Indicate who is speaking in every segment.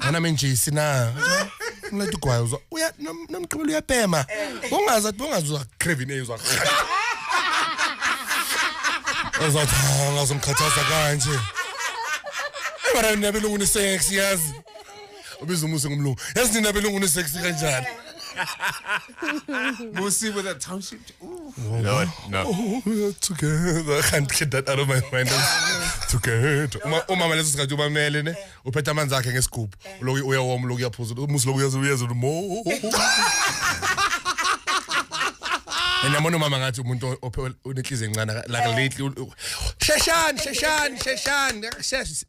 Speaker 1: Ana menjisi na. Ngilethe igwayo uzwa uya nom- nomgqibelo uyapema. Ungaza ungazwa craving eyizwa. Uzothi "Ah, ngazomkhathaza kanje. Ebara nabelungu ni sex yazi. Ubiza umusi ngumlungu. Yazi nina belungu ni sex kanjani?
Speaker 2: Musi with a township. Lord,
Speaker 1: no. Oh, we are together. I can't get that out of my mind. together. Uma uma maleso sikhathi ubamele ne uphethe amanzi akhe ngesigubhu. Lokhu uyawoma lokhu uyaphuza. Umusi lokhu uyazi uyazi mo. And yamona umama ngathi umuntu onenhliziyo encane like lately. Sheshani, sheshani, sheshani. Sheshani.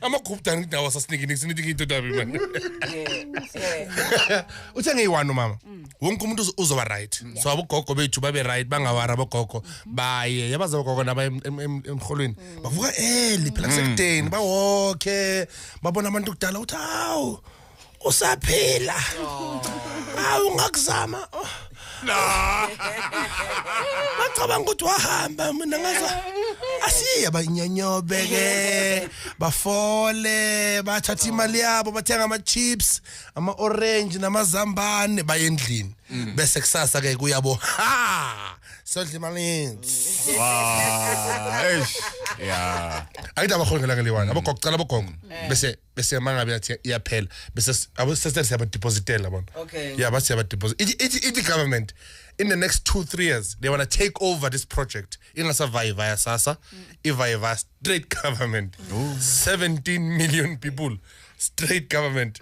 Speaker 1: amakhubudana ukuthi nawo asasinikini kusiniti ngiyindoda yami manje uthe ngiyi-one umama wonke umuntu uzo- uzoba right so abogogo bethu babe right bangawari abogogo baye yabazi abogogo naba em- em- em- emrholweni bavuka eli phela kusekudeni bawoke babona abantu kudala ukuthi hawu usaphila awu ngakuzama no bacabanga ukuthi wahamba mina ngaza asiye banyanyobe ke bafole bathatha imali yabo bathenga ama chips ama orange namazambane baye endlini mm. bese kusasa ke kuyabo ha sodla imali wow eish
Speaker 2: yeah ayidaba khona
Speaker 1: ngeliwana abogogo cala abogogo mm. bese bese mangabe yathi iyaphela bese abo sese siyaba depositela bona Okay. yeah base siyaba deposit it it it government in the next 2 3 years they want to take over this project ingasavayi via sasa ivayi via straight government 17 million people straight government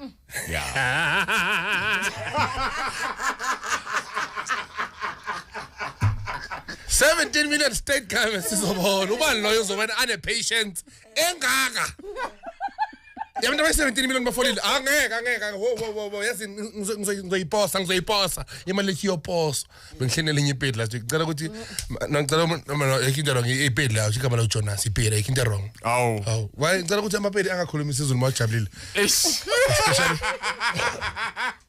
Speaker 1: Seventeen million state government sizobona ubani loyo uzobona ane patience engaka yabantu abayi-17 million bafolile angeke ah, angeke wo wo wo wo yazi ngizoyiposa ngizoyiposa imali lethi iyoposwa bengihleni elinye ipedi last week ngicela ukuthi ngicela yekho into wrong ipedi layo igama layo jonas ipedi yekho into wrong awu awu waye ngicela ukuthi amapedi angakhulumi isizulu uma ujabulile